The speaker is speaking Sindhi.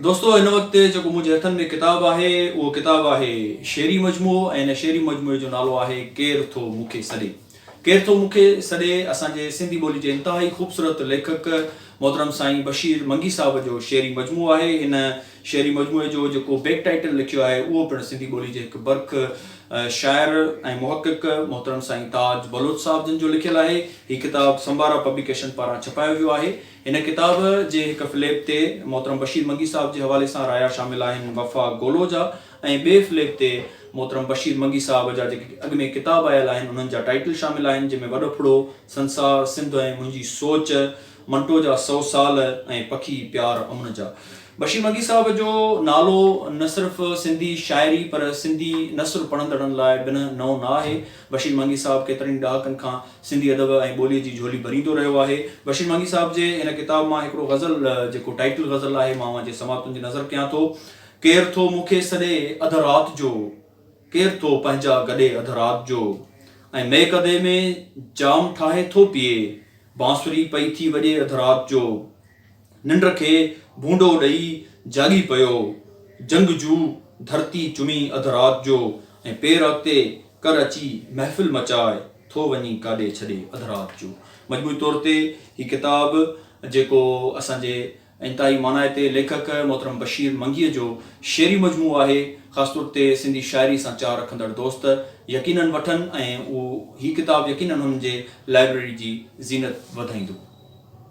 دوستو هن وقت جيڪو منهنجي هٿن ۾ ڪتاب آهي اهو ڪتاب آهي شعري مجموعو ۽ هن شعري مجموعي جو نالو آهي ڪير ٿو مون کي سڏي ڪير ٿو مون کي سڏي اسان جي سنڌي ٻولي جي انتهائي خوبصورت ليکڪ محترم سائين بشير منگي صاحب جو شعري مجموعو آهي هن شعري مجموعي جو جيڪو بيڪ ٽائيٽل لکيو آهي اهو پڻ سنڌي ٻولي جي هڪ برک شاعر ۽ محقق محترم سائين تاج بلوچ صاحب جن جو لکيل آهي هي ڪتاب سمبارا پبليڪيشن پاران ڇپايو ويو آهي هن ڪتاب جي هڪ فليپ تي محترم بشير منگي صاحب جي حوالي سان رايا شامل آهن وفا گولو جا ۽ ٻئي فليپ تي محترم بشير منگي صاحب جا جيڪي اڳ ۾ ڪتاب آيل آهن انهن جا ٽائيٽل شامل آهن جنهن ۾ وڏو ڦڙو، سنسار، سنڌ ۽ منهنجي سوچ، منٽو جا سؤ سال ۽ پکي پيار امن جا. بشير منگي صاحب جو نالو نه صرف سنڌي شاعري پر سنڌي نثر پڙهندڙن لاء بنهه نئون نه آهي. بشير منگي صاحب ڪيترن ئي ڏهاڪن کان سنڌي ادب ۽ ٻوليء جي جهولي ڀريندو رهيو آهي. بشير مانگي صاحب جي هن ڪتاب مان هڪڙو غزل جيڪو ٽائيٽل غزل آهي مان اوهان جي سماع تنظ نظر ڪيان ٿو. ڪير ٿو مون کي سڏي اڌ رات جو ڪير ٿو پنهنجا گڏي اڌ رات جو ۽ ميڪدي ۾ جام ٺاهي ٿو پيئي بانسري پئي ٿي وڄي اڌ رات جو. ننڊ کي ڀونڊو ڏئي جاڳي پيو، جنگجو ڌرتي چمي اڌ رات جو ۽ پير اڳتي ڪر اچي محفل مچائي ٿو وڃي ڪاڏي ڇڏي اڌ رات جو. مجموعي طور تي هي ڪتاب جيڪو اسان جي انتهائي مانائتي ليکڪ محترم بشير منگيء جو شعري مجموعو آهي، خاص طور تي سنڌي شاعري سان چاهه رکندڙ دوست يقينن وٺن ۽ هي ڪتاب يقينن هنن جي لائبريري جي زينت وڌائيندو.